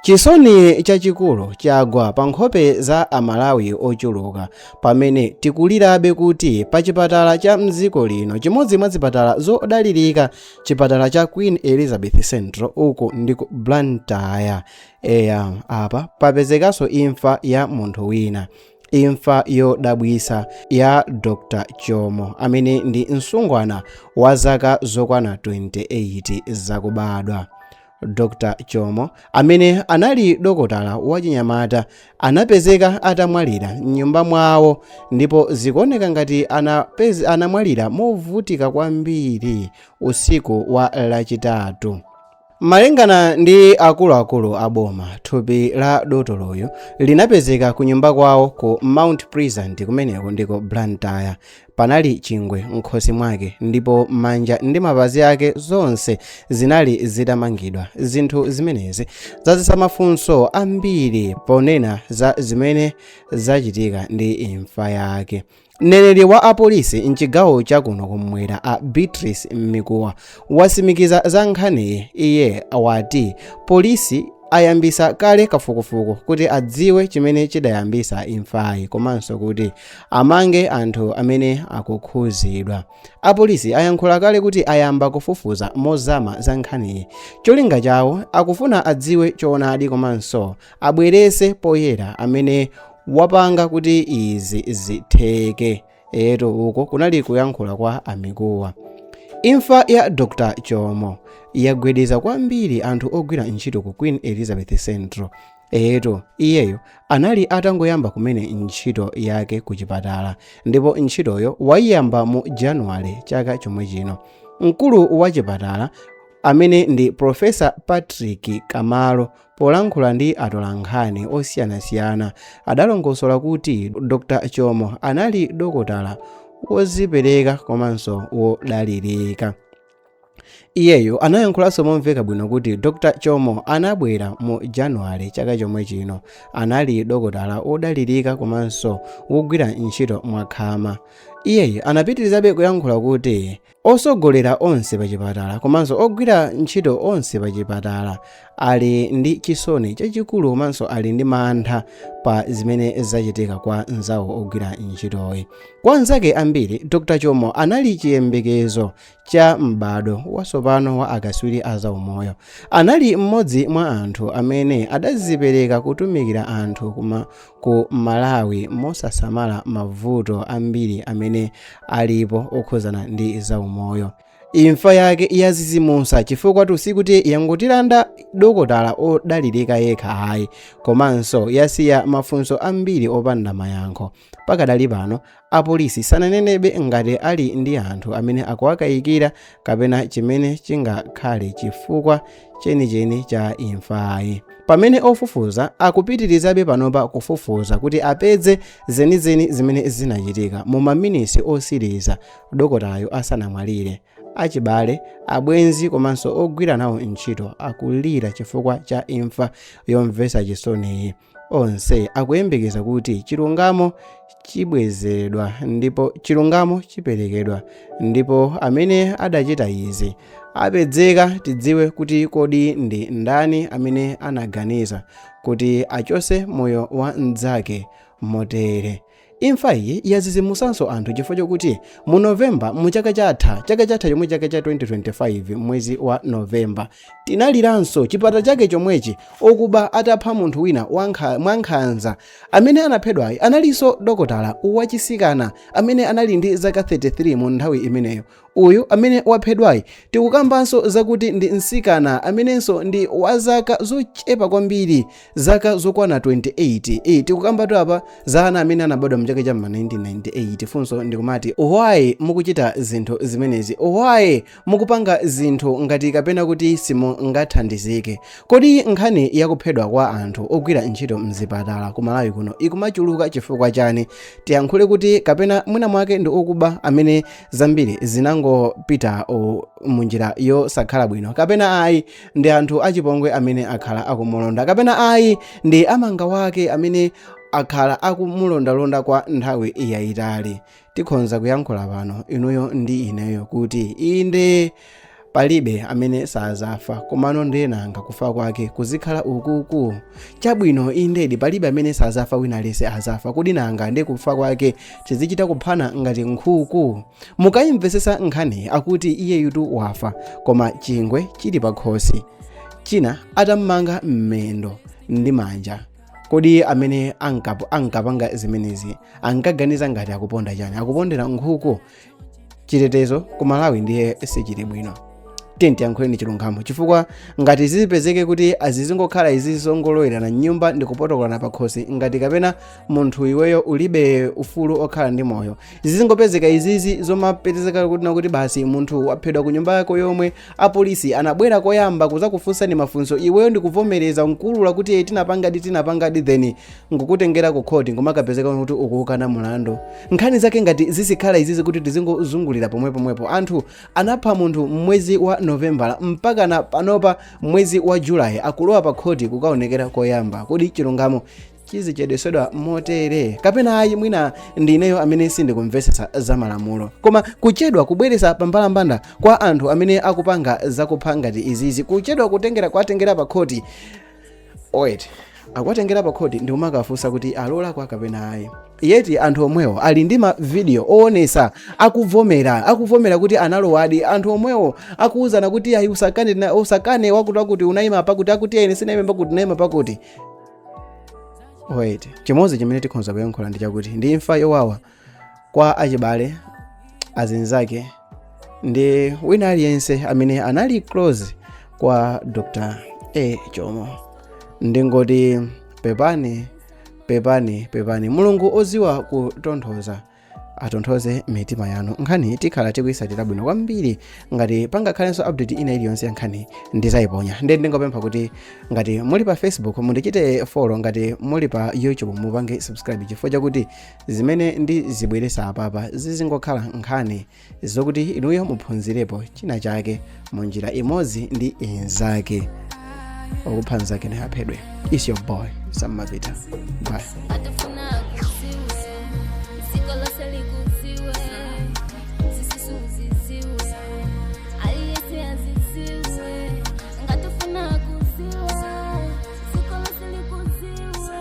Chisoni chachikulu chagwa pa nkhope za a Malawi ochuluka pamene tikulirabe kuti pa chipatala cha mdziko lino chimodzi mwa zipatala zodalirika chipatala cha Queen Elizabeth Central uku ndi ku Blantyre eya apa papezekanso imfa ya munthu wina imfa yodabwisa ya Dr. Chomo amene ndi msungwana wa zaka zokwana 28 zakubadwa dr chomo amene anali dokotala wachinyamata anapezeka atamwalira mnyumba mwawo ndipo zikuoneka ngati anapez, anamwalira movutika kwambiri usiku wa lachitatu malingana ndi akuluakulu a boma thupi la dotoloyu linapezeka ku nyumba kwawo ku mount pleasant kumeneko ndi ku blantyre panali chingwe m'khosi mwake ndipo manja ndi mapazi ake zonse zinali zitamangidwa zinthu zimenezi zazisa mafunso ambiri ponena za zimene zachitika ndi imfa yake mneneri wa apolisi mchigawo chakuno kumwera a beatrice mikuwa wasimikiza za nkhaniyi iye wati polisi ayambisa kale kafukufuku kuti adziwe chimene chidayambisa imfayi komanso kuti Amange anthu amene akukhuzidwa. Apolisi ayankhula kale kuti ayamba kufufuza mozama za nkhaniyi. Cholinga chawo akufuna adziwe choonadi komanso abwerese poyera amene wapanga kuti izi zitheke. Eyetu uko kunali kuyankhula kwa a Mikuwa. Imfa ya Dr. Chomo yagwedeza kwambiri anthu ogwira ntchito ku Queen Elizabeth Central. Eyetu, iyeyo anali atangoyamba kumene ntchito yake ku chipatala ndipo ntchitoyo wayiyamba mu Januwale chaka chomwe chino. Mkulu wa chipatala amene ndi Profesa Patrick Kamalo polankhula ndi atolankhani osiyanasiyana adalongosola kuti Dr. Chomo anali dokotala wozipereka komanso wodalirika. iyeyo anayankhulanso momveka bwino kuti dr chomo anabwera mu januwale chaka chomwe chino anali dokotala wodalirika komanso wogwira ntchito mwakhama iyeyu anapitirizabe kuyankhula kuti asogoleri onse pachipatala komanso ogwira ntchito onse pachipatala ali ndi chisoni chachikulu komanso ali ndi mantha pa zimene zachitika kwa nzawo ogwira ntchitoyi kwa anzake ambiri dr chomo anali chiyembekezo cha m'badwo watsopano wa akatswiri a zaumoyo. Anali mmodzi mwa anthu amene adazipereka kutumikira anthu kuma, ku Malawi mosasamala mavuto ambiri amene alipo okhudzana ndi zaumoyo. Imfa yake yazizimusa chifukwa tu sikuti yangotilanda dokotala odalirika yekha ayi, komanso yasiya mafunso ambiri opanda mayankho. Pakadali pano, apolisi sananenebe ngati ali ndi anthu amene akuwakayikira kapena chimene chingakhale chifukwa chenicheni cha imfayi. Pamene ofufuza akupitirizabe panopa kufufuza kuti apeze zenizeni zimene zinachitika mu maminitsi otsiriza dokotalayo asanamwalire, achibale, abwenzi komanso ogwira nawo ntchito akulira chifukwa cha imfa yomvetsa chisoniyi. onse akuyembekeza kuti chilungamo chibwezeredwa ndipo chilungamo chiperekedwa ndipo amene adachita izi apezeka tidziwe kuti kodi ndi ndani amene anaganiza kuti achose moyo wa mnzake motere Imfa iyi yazizimusanso anthu chifukwa chokuti mu November mu chaka chatha, chaka chatha chomwechi chaka cha 2025 mwezi wa November tinaliranso chipata chake chomwechi okuba atapha munthu wina wankha, mwankhanza. Amene anaphedwayi analinso dokotala wachisikana amene anali ndi zaka 33 mu nthawi imeneyo. Uyu amene waphedwayi tikukambanso zakuti ndi mtsikana amenenso ndi wa zaka zochepa kwambiri, zaka zokwana 28. Eee tikukambatu apa za ana amene anabadwa m'chaka cha m'ma 1998. Funso ndi kumati why mukuchita zinthu zimenezi? Why mukupanga zinthu ngati kapena kuti simungathandizike? Kodi nkhani ya kuphedwa kwa anthu ogwira ntchito m'zipatala ku Malawi kuno ikumachuluka chifukwa chani? tiyankhule kuti kapena mwina mwake ndi okuba amene zambiri zinangopita u- munjira yosakhala bwino kapena ayi ndi anthu achipongwe amene akhala akumulonda kapena ayi ndi amanga wake amene akhala akumulondalonda kwa nthawi yayitali tikhonza kuyankhula pano inuyo ndi ineyo kuti inde palibe amene sazafa komano ndenanga kufa kwake kuzikhala ukuku chabwino indedi palibe amene sazafa wina aliyense azafa kodi nanga nde kufa kwake tizichita kuphana ngati nkhuku mukayimvesesa nkhani akuti iyeyutu wafa koma chingwe chili pakhosi china atammanga mmendo ndi manja kodi amene ankapo- ankapanga zimenezi ankaganiza ngati akuponda chani akupondera nkhuku chitetezo ku malawi ndiye sichili bwino tiyeni tiyankhuleni chilungamo chifukwa ngati zizipezeke kuti azizingokhala izi zongolowerana mnyumba ndi kupotokolana pakhosi ngati kapena munthu iweyo ulibe ufulu okhala ndi moyo zizingopezeka izizi zomapezeka kuti basi munthu waphedwa ku nyumba yako yomwe apolisi anabwera koyamba kuzakufunsani mafunso iweyo ndikuvomereza nkuulula kuti "Eh, tinapangadi tinapangadi then nkukutengera ku khoti nkumakapezeka kuti ukukana mulandu nkhani zake ngati zizikhala izizi kuti tizingozungulira pomwepomwepo anthu anapha munthu mmwezi wa novembala mpaka na panopa mmwezi wa julayi akulowa pa khoti kukaonekera koyamba kodi chilungamo chizichedwesedwa motere kapena ayi mwina ndineyo amene sindikumvesesa za malamulo koma kuchedwa kubweresa pambalambanda kwa anthu amene akupanga zakupha ngati izizi kuchedwa kutengera kuatengera pa khoti akuwatengera pa khoti ndi kumakafunsa kuti alakwa kapena ayi yeti anthu omwewo ali ndi mavidiyo owonesa akuvomera akuvomera kuti analowadi anthu omwewo akuwuzana kuti ayi usakane na- usakane wakuti wakuti unayima pakuti akuti ine sinayima pakuti unayima pakuti chimozi chimene tikhoza kuyankhula ndi chakuti ndi imfa yowawa kwa achibale azinzake ndi wina aliyense amene anali close kwa dr a jomo ndingoti pepani pepani pepani mulungu oziwa kutonthoza atonthoze mitima yanu nkhani tikhala tikuyisatira bwino kwambiri ngati pangakhalenso update ina iliyonse ya nkhani ndizayiponya nde ndingopempha kuti ngati muli pa facebook mundichite follow ngati muli pa youtube mupange subscribe chifukwa chakuti zimene ndizibweresa apapa zizingokhala nkhani zokuti inuyo muphunzirepo china chake mu njira imodzi ndi inzake okupha nzake naye aphedwe it's your boy sammapita bye atafuna akusiwe ziko lose likusiwe zisusu ziziwe aliyese aziziwe ngatafuna akusiwe ziko lose likusiwe